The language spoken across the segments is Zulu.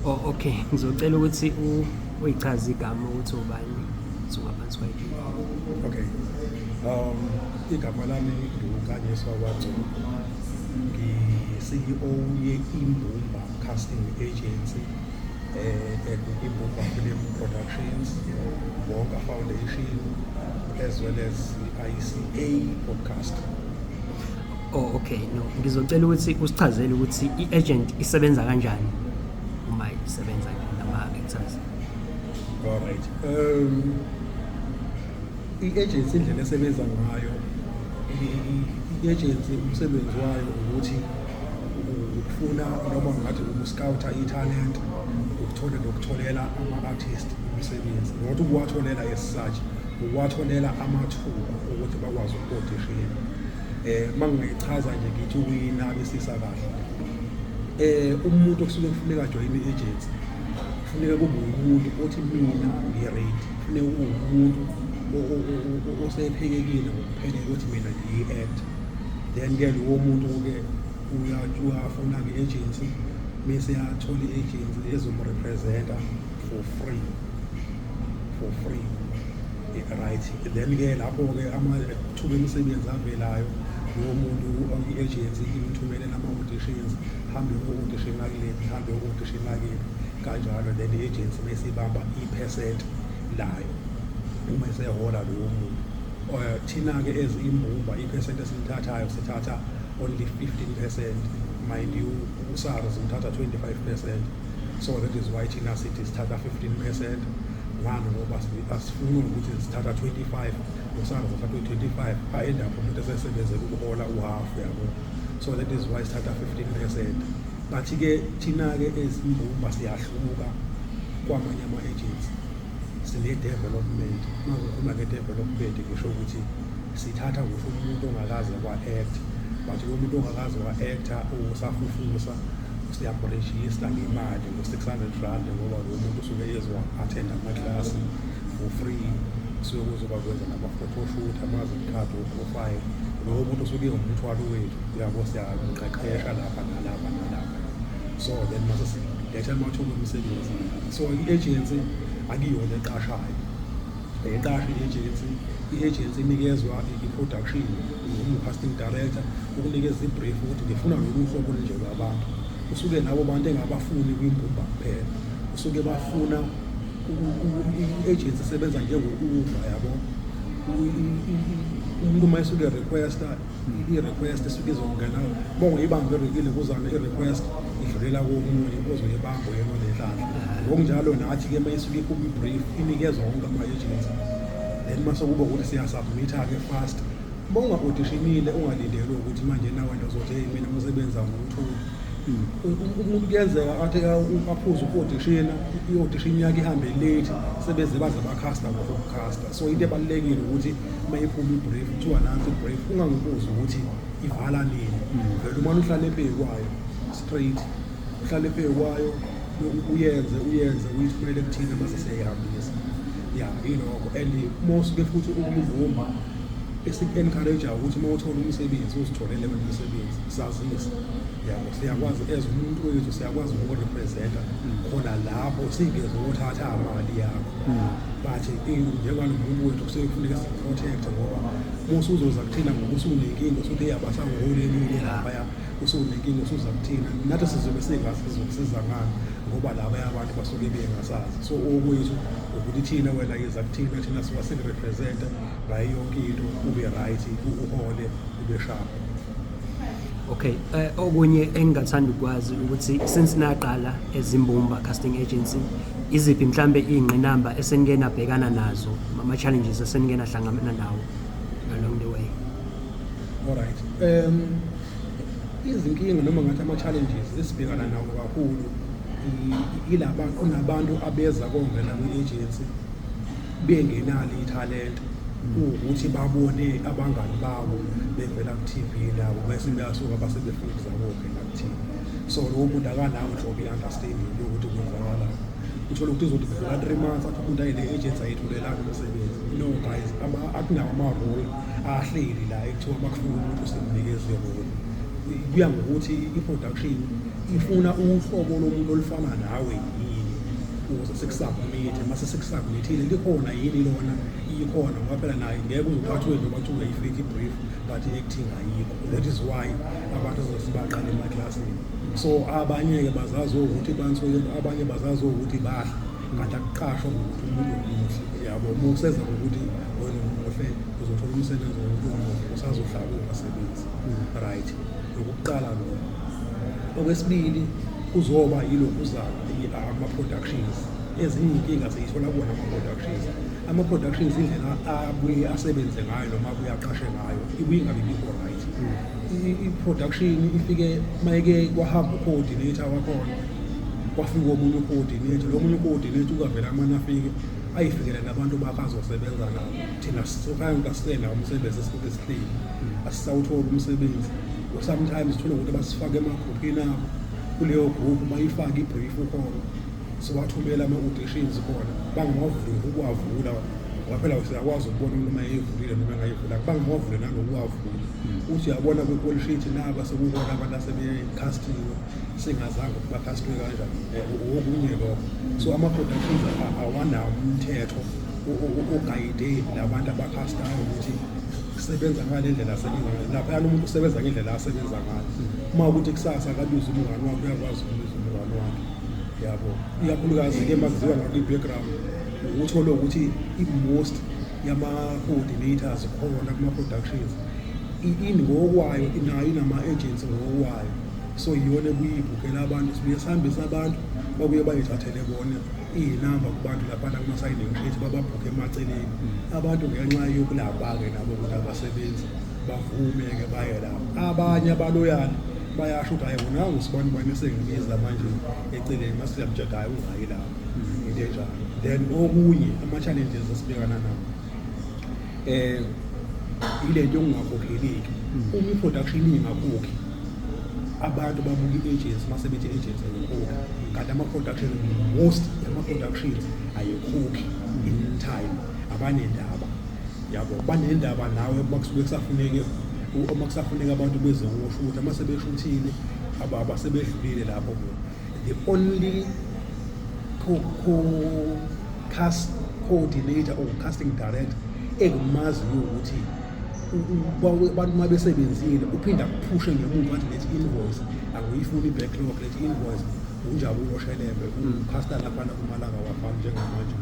Oh okay, ngizocela ukuthi u uyichaze igama ukuthi ubani suka phansi kwayiphi. Okay. Um igama lami ngukanyiswa kwagcobo. Ngi-CEO ye-Imbumba Casting Agency eh Imbumba Film Productions, Bonga Foundation as well as ICA Podcast. Oh okay no ngizocela ukuthi usichazele ukuthi i-agent isebenza kanjani uma isebenza nama-actors. All right. Um i-agency indlela esebenza ngayo i-agency umsebenzi wayo ukuthi ukufuna noma ngathi ukuscouta i-talent ukuthola nokutholela ama-artist umsebenzi not ukuwatholela as such ukuwatholela amathuba ukuthi bakwazi ukukodishela um eh, uma ngingayichaza nje ngithi ukuyinabisisa kahle um umuntu okusuke kufuneka ajoyine i-agency kufuneka kube umuntu othi mina ngi-rate kufuneka kube umuntu osephekekile ngokuphelele ukuthi mina ngiyi-act then-ke lowo muntu-ke uyafuna nge-agency bese yathola i-agency ezomrepresenta for free for free right then ke lapho ke amathuba emisebenzi avelayo lowo muntu i-agency imthumele nama-auditions hambe u-audition lakilephi hambe u-audition lakilephi kanjalo then i-agency mesibamba i-percent layo uma esehola lowo muntu eh, thina-ke as imbumba i-percent esilithathayo sithatha only 15 percent mind you usars uthatha 25 percent so that is why thina sithi sithatha 15 percent ngani ngoba asifuni ukuthi sithatha 25 nosana sithatha 25 aenda pho umuntu esesebenze ukuhola uhalf yabo so that is why sithatha 15 percent but-ke thina-ke ezimbumba siyahluka kwamanye ama-agents sine-development uma ngikhuluma nge-development ngisho ukuthi sithatha ngisho umuntu ongakaze kwa-act but lo muntu ongakaze wa-acta usafufusa siyamrejista ngemali ngo-600 rand ngoba lo muntu usuke ezowa-athenda amaklasi for free suke kuzoba kwenza nama-photoshoot amazimkhadi woprofile lowo muntu usuke ewumthwalo wethu yabo siyaqeqesha lapha nalapha nalapha so then mase siletha amathuba omsebenzi so i-agency akuyona eqashayo Ngiqashe i-agency, i-agency inikezwa i-production ngiwumu-casting director ukunikeza i-brief ukuthi ngifuna lolu hlobo olunje lwabantu usuke nabo bantu engabafuni kwimbumba kuphela usuke bafuna i-agency isebenza njengokuwuva yabo umuntu uma esuke requesta i-request esuke izongena bongo ibambe erekile kuzana i-request idlulela komunye ozoyibamba yena lenhlanhla ngokunjalo nathi-ke uma isuke ikhupha i-brief inikezwa wonke ama-agency then uma sekuba ukuthi siyasubmitha-ke fast uma unga-odishinile ungalindelwe ukuthi manje nawena uzothi heyi mina umsebenzi angiwutholi umuntu kuyenzeka athi aphuze uku-odishina i-odishini yakhe ihambe late sebeze baze bakhasta ngokukhasta so into ebalulekile ukuthi uma iphuma ibrief kuthiwa nansi ibrief ungangibuzi ukuthi ivala nini hmm. vele umane uhlale epheyi kwayo straight uhlale epheyi kwayo uyenze uyenze uyithumele ekuthina mase seyihambisa ya yilokho and mosuke futhi ukumvuma esiku-encourajayo ukuthi uma uthola umsebenzi uzitholele wena umsebenzi sazise yabo siyakwazi as umuntu wethu siyakwazi ukurepresenta hmm. khona lapho singeze ukuthatha imali yakho but njengoba nomuntu wethu kusuke kufuneka siprotect ngoba musa uzoza kuthina ngoba usunenkinga usuthi eyabasa ngihole elinye laphaya usunenkinga usuza kuthina nathi sizobe singazi sizokusiza ngani ngoba laba abantu basuke bengasazi so okwethu ukuthi thina wena yeza kuthina thina siwa sikurepresenta ngayo yonke into ube right uhole ube sharp Okay, eh, okunye engingathanda ukwazi ukuthi since naqala ezimbumba casting agency Iziphi mhlambe iy'ngqinamba esenike nabhekana nazo ama-challenges esenike nahlangabana nawo along the way? Alright. Um izinkinga noma ngathi ama-challenges esibhekana nawo kakhulu yilaba kunabantu abeza kongena kwi-agency bengenalo ithalente ukuthi babone abangani babo bevela ku-TV nabo bese beyasuka base befuna ukuzabokhe ngakuthini so lowo muntu akanawo nhlobo i-understanding yokuthi kwenzakalani uthole ukuthi uzothi kudlula three months athi umuntu ayile agents ayithulelani umsebenzi no guys akunawo ama-role ahleli la ekuthiwa makufuna umuntu usemnikeze role kuya ngokuthi i-production ifuna uhlobo lomuntu olufana nawe yini ukuze sikusubmithe uma sesikusubmithile likhona yini lona ikhona ngoba phela naye ngeke uzothi athiwe noma kuthiwa yi-fake brief but i-acting ayikho that is why abantu zosibaqala emaklasini so abanye-ke bazazi ukuthi bansuke abanye bazazi ukuthi bahle kanti akuqashwa ngokuthi umuntu omuhle yabo uma useza ngokuthi wena umuhle uzothola umsebenzi wokuthi umuhle usazohlala ungasebenzi right lokuqala lo okwesibili kuzoba yilokuzala ama-productions ezinye inkinga siyithola kuwona ama-productions ama-productions indlela abuye asebenze ngayo noma abuye aqashe ngayo ibuye ingabe bikho right i-production ifike mayeke kwahamba u-coordinator wakhona kwafika omunye u-coordinator lo munye u-coordinator ukavela amane afike ayifikele nabantu bakhe azosebenza nabo thina sokhange kasisela umsebenzi esikuke sihleli asisawutholi umsebenzi sometimes thole ukuthi basifake emagruphini abo kuleyo group bayifake ibrief khona siwathumela ama-auditions khona bangawavuli ukuwavula ngoba phela siyakwazi ukubona umuntu uma eyivulile noma engayivula bangawavule nanokuwavula uthi yabona kwikolishiti naba sekukona abantu asebekhastiwe singazange ukuthi bakhastwe kanjani um okunye lokho so ama-productions awanawo umthetho ogayide labantu abakhastayo ukuthi sebenza ngale ndlela sebenza lapha yalo muntu usebenza ngendlela asebenza ngayo uma ukuthi kusasa akabiza umngani wakho uyakwazi ukubiza umngani wakhe yabo ikakhulukazi ke makuziwa ngakwi-background uthole ukuthi i-most yama-coordinators khona kuma-productions ingokwayo nayo inama-agents ngokwayo so yiyona ekuyibhukela abantu sibuye sihambise abantu babuye bayithathele bona iyinamba kubantu laphana kuma-signing page bababhukhe emaceleni mm. abantu ngenxa yokulapha-ke nabo ukuthi abasebenzi bavume-ke baye lapho abanye abaloyana bayasho ukuthi hayi wona ngisibona ubani esengibiza manje eceleni mase siyamjeda hayi ungayi lapho into enjalo then okunye ama-challenges esibhekana nawo eh ile nto yokungakhokheleki uma i-production ingakhokhi abantu babuka i-agency mase bethi i-agency ayikhokhi kanti ama-production most ama-productions ayikhokhi in time abanendaba yabo banendaba nawe uma kusuke kusafuneke uma kusafuneka abantu beze kusho ukuthi uma sebeshuthile ababa sebedlulile lapho the only co, co cast coordinator or casting director engimaziyo ukuthi abantu uma besebenzile uphinde akuphushe ngemuva athi lethi invoice angiyifuni i-backlog lethi invoice unjabulo shelembe ucasta laphana kumalanga wafana njengamanje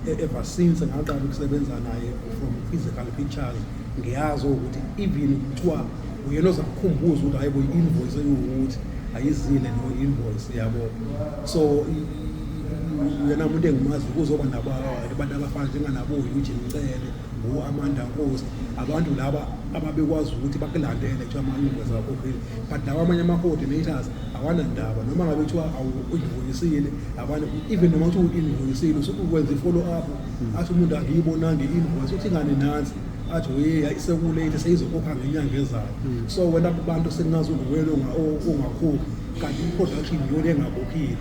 E-, ever since ngaqala ukusebenza naye from physical pictures ngiyazi ukuthi even kuthiwa uyena ozakukhumbuza ukuthi hayi kuyi-invoice ekuwukuthi ayizile no invoice yabo so yena umuntu engimazi kuzoba nabantu abafana njenganabo-eugene cele ngu-amanda nkosi abantu laba ababekwazi ukuthi bakulandele kuthiwa ama-universe akhokhile but lawa amanye ama-coordinators awanandaba noma ngabe kuthiwa awuyivuyisile abane even noma kuthiwa uyivuyisile usuke ukwenza i-follow up athi umuntu angiyibonanga i-invoice uthi ngani nansi athi uye isekulate seyizokhokha ngenyanga ezayo so wena kubantu sekungazi unguwena ongakhokhi kanti i-production yona engakhokhile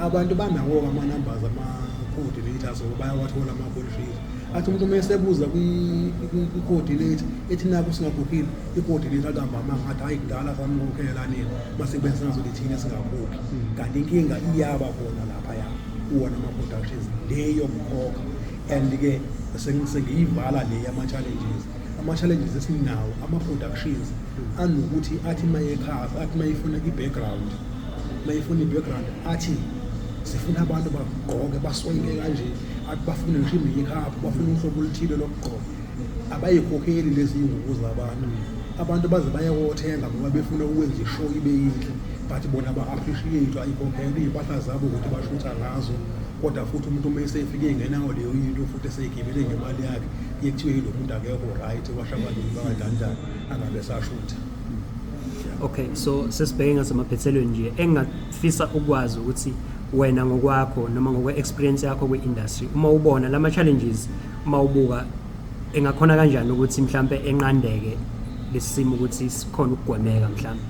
abantu banawo-ke ama-numbers ama-coordinators bayawathola ama-contract athi umuntu uma esebuza kwi-coordinator ethi naku singakhuphile i-coordinator akambama ngathi hayi kudala samukhokhela nini uma sekubeni singazothi thina singakhuphi hmm. kanti inkinga iyaba khona laphaya kuwona ama-productions le yomkhokha and-ke sengiyivala le yama-challenges ama-challenges esinawo ama-productions hmm. anokuthi athi mayekhava athi mayefuna i-background mayefuna i-background athi sifuna abantu bagqoke baswayile kanje akubafuni ngisho imeyikhapu bafuna uhlobo oluthile lokugqoka abayikhokheli lezi ngubo zabantu abantu baze bayawothenga ngoba befuna ukwenza ishow ibe yinhle but bona ba-appreciate ayikhokhele iy'mpahla zabo ukuthi bashutha ngazo kodwa futhi umuntu uma esefike engenawo leyo yinto futhi eseyigibele ngemali yakhe iye kuthiwe yilo muntu akekho right washa abaningi bangadanjani angabe sashutha okay so sesibheke ngasemaphethelweni nje Sifisa ukwazi ukuthi wena ngokwakho noma ngokwe experience yakho kwi industry uma ubona lama challenges uma ubuka engakhona kanjani ukuthi mhlambe enqandeke lesimo ukuthi sikhona ukugwemeka mhlambe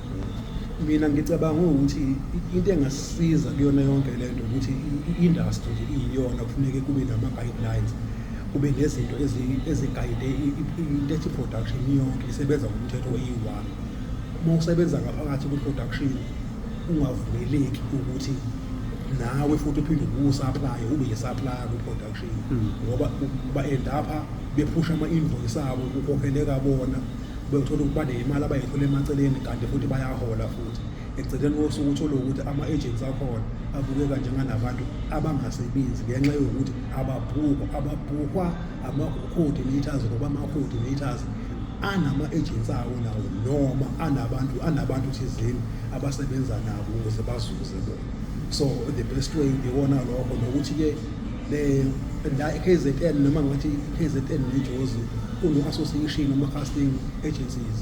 mina ngicabanga ukuthi into engasiza kuyona yonke lento ukuthi i-industry nje iyiyona kufuneke kube nama guidelines kube nezinto ezigayide into ethi production yonke isebenza ngomthetho oyi-one uma usebenza ngaphakathi kwi-production ungavumeleki ukuthi nawe futhi uphinde ubusaplaye ube yisaplaya kwi-production hmm. ngoba ba-endapha bephusha ama-invoice abo kukhokheleka bona bethola ukuthi baneyimali abayithola emaceleni kanti futhi bayahola futhi ekugcineni kosuku uthole ukuthi ama-agents akhona abukeka njenganabantu abangasebenzi ngenxa yokuthi ababhukwa ababhukwa ama-coordinators ngoba ama-coordinators anama-ejensi awo nawo noma anabantu anabantu thizeni abasebenza nabo ukuze bazuze bona so the best way ngibona lokho nokuthi-ke la i-kzn noma ngathi i-kzn nejozi kune-association ama-casting agencies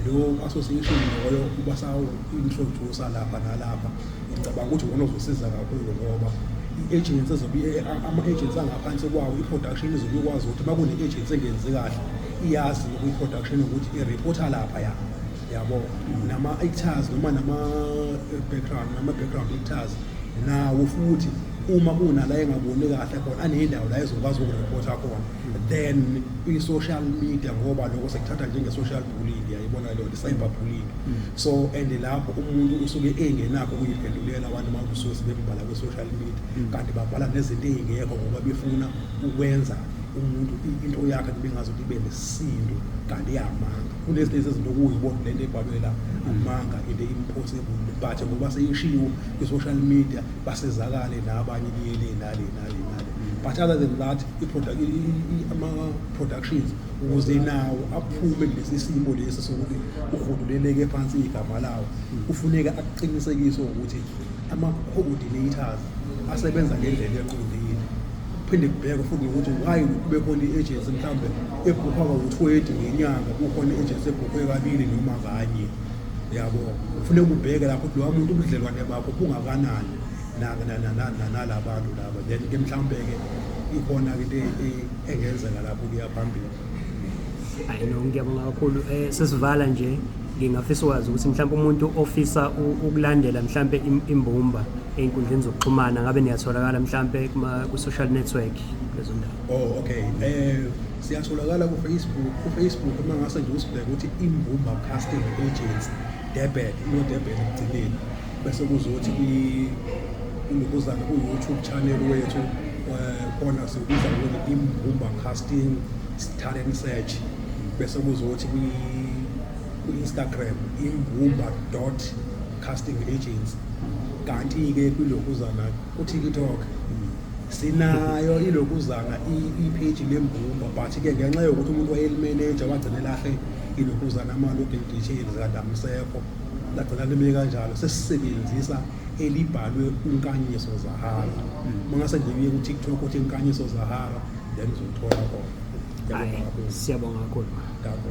lo association loyo ubasawu-introducer lapha nalapha Ngicabanga ukuthi ngona uzosiza kakhulu ngoba i-agents ezobe ama-agents angaphansi kwawo i-production izobe ikwazi ukuthi uma kune-agents engenzi kahle iyazi kwi-production ukuthi i-reporter lapha ya yabo nama-actors noma nama-background nama-background actors nawo futhi uma kunala engaboni kahle khona aneyindawo la ezokwazi ukureporta khona then i-social media ngoba lokho sekuthatha njenge-social bullying yayibona leyo i-cyber bullying so and lapho umuntu usuke engenakho ukuyiphendulela abantu makusuke sebembhala kwi-social media mm. kanti babhala nezinto ey'ngekho ngoba befuna ukwenza umuntu into yakhe kubengazi ukuthi ibe nesintu kanti iyamanga kulezi lezi zinto kuyibona lento ebhalwe la amanga into impossible but ngoba seyishiwo kwi-social media basizakale nabanye kuyele nale nale nale but other than that ama-productions ukuze nawo aphume kulesi simo lesi sokuthi uhuduleleke phansi igama lawo kufuneka akuqinisekise ukuthi ama-coordinators asebenza ngendlela eqondile kuphinde kubhekwe futhi nokuthi why kube khona i-agency mhlawumbe ebhukha kawu-twenty ngenyanga kukhona i-agency ebhukhwe kabili noma kanye yabo kufuneka ubheke lapho ukuthi lowa muntu ubudlelwane bakho bungakanani nalabantu laba then ke mhlawumbe-ke ikhona-ke into engenzeka lapho kuya phambili hayi no ngiyabonga kakhulu um sesivala nje ngingafisa ukwazi ukuthi mhlawumbe umuntu ofisa ukulandela mhlawumbe imbumba ey'nkundleni zokuxhumana ngabe niyatholakala mhlawumbe ku-social network lezo ndawo oh okay um siyatholakala kufacebook kufacebook uma ngase nje usibheke ukuthi imbumba casting agency debet ino-debet ekugcineni bese kuzothi kungikuzana ku-youtube channel wethu eh, khona sikubiza ngokuthi imbumba casting talent search bese kuzothi kwi-instagram imbumba dot casting agency kanti-ke kwilokuzana kutiktok sinayo ilokuzana ipheji lembumba but-ke ngenxa yokuthi umuntu wayelimeneja wagcina elahle ilokuzana ama-login details kanti amsekho lagcina lime kanjalo sesisebenzisa elibhalwe unkanyiso zahara uma ngase nje kuye kutiktok othi inkanyiso zahara then uzothola khona Hhayi, siyabonga kakhulu. Ngakho.